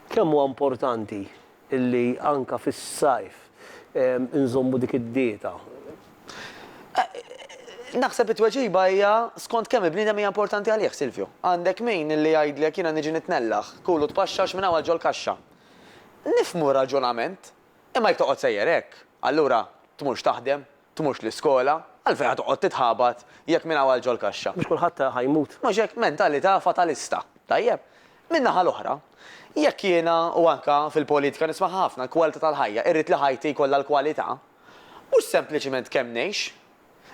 Kemm huwa importanti li anke fis-sajf inżommu dik id-dieta? Naħseb it-tweġiba hija skont kemm il-bniedem hija importanti għalih, Silvio. Għandek min li jgħidlek jiena niġi nitnellaħ, kul u tpaxxax minn hawn għal ġol-kaxxa. Nifhmu r-raġunament, imma jekk toqgħod sejjer hekk, allura tmurx taħdem, Tmurx l-iskola? Għalfejn ħa toqgħod titħabat jekk minn hawn għal ġol-kaxxa? Mhux kulħadd ħa jmut. Mhux hekk? Mentalità fatalista. Tajjeb. Min-naħa l-oħra, jekk jiena, u anke fil-politika nismaha ħafna, l-kwalità tal-ħajja, irrid li ħajti jkollha l-kwalità, mhux sempliċement kemm ngħix,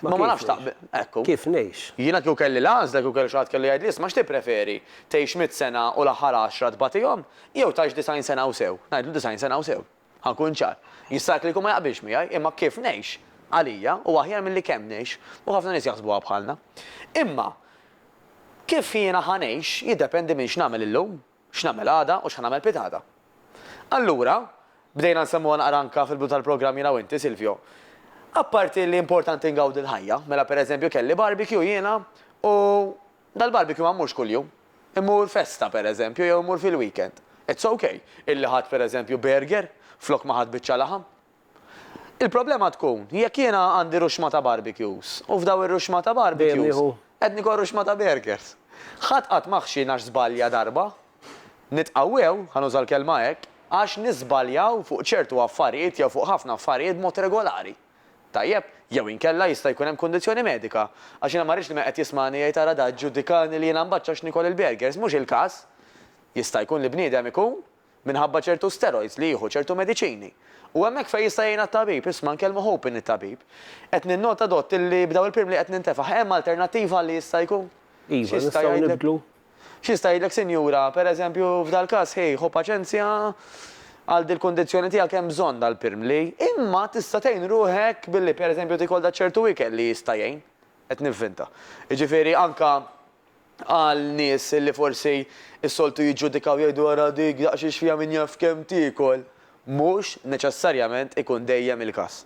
imma ma nafx taqbel, ekku. Kif ngħix. Jiena kieku kelli l-għażla, kieku kelli xi ħadd kellu jgħidli isma' x'tippreferi, tgħix mitt sena u l-aħħar għaxra tbagħtihom, jew tgħix disgħin sena u sew? Ngħidlu disgħin sena u sew. Ħa nkun ċar. Jista' li jkun ma jaqbilx miegħi, imma kif ngħix, għalija, hu aħjar milli kemm ngħix, u ħafna nies jaħsbuha bħalna. Imma kif jiena ħa ngħix jiddependi minn x'nagħmel illum, x'nagħmel għada u x'ħa nagħmel pitgħada. Allura, bdejna nsemmuha naqra anke fil-bidu tal-programm jiena u inti, Silvio, apparti li importanti ngawdi l-ħajja, mela pereżempju kelli barbecue jiena u Dal-barbecue ma mmurx kuljum. Immur festa, per eżempju, jew immur fil-weekend. It's ok illi ħadt per eżempju burger flok ma ħadt biċċa laħam. Il-problema tkun jekk jiena għandi ruxma ta' barbecues u f'daw ir-ruxma ta' barbecues qed nieħu ruxma ta' burgers. Ħadd qatt ma ħxi għax żbalja darba. Nitqawwew, ħa nuża l-kelma hekk, għax niżbaljaw fuq ċertu affarijiet jew fuq ħafna affarijiet b'mod regolari. Tajjeb, jew inkella jista' jkun hemm kundizzjoni medika. Għax jiena ma rridx li min qed jismagħni jgħid ara da ġġudikani li jiena mbaċċa għax nikol il-burgers, mhux il-każ. Jista' jkun li bniedem ikun minħabba ċertu steroids li jieħu ċertu mediċini. U hemmhekk fejn jista' jgħinha t-tabib, isma' nkellmu hoping it-tabib. Qed ninnota Dott. Illi b'dawn il-pirmli qed nintefaħ, hemm alternattiva għal li jista' jkun? Iva, nistgħu nibdlu? X'jista' jgħidlek sinjura, per eżempju, f'dal-każ, ħej, ħu paċenzja, għal dil-kundizzjoni tiegħek hemm bżonn dal-pirmli, imma tista' tgħin ruħek billi, per eżempju, tiekol dak ċertu ikel li jista' jgħin. Qed nivvinta. Jiġifieri anke għal nies li forsi s-soltu jiġġudikaw jgħidu ara dik daqsxiex fiha min jaf kemm tiekol, mhux neċessarjament ikun dejjem il-każ.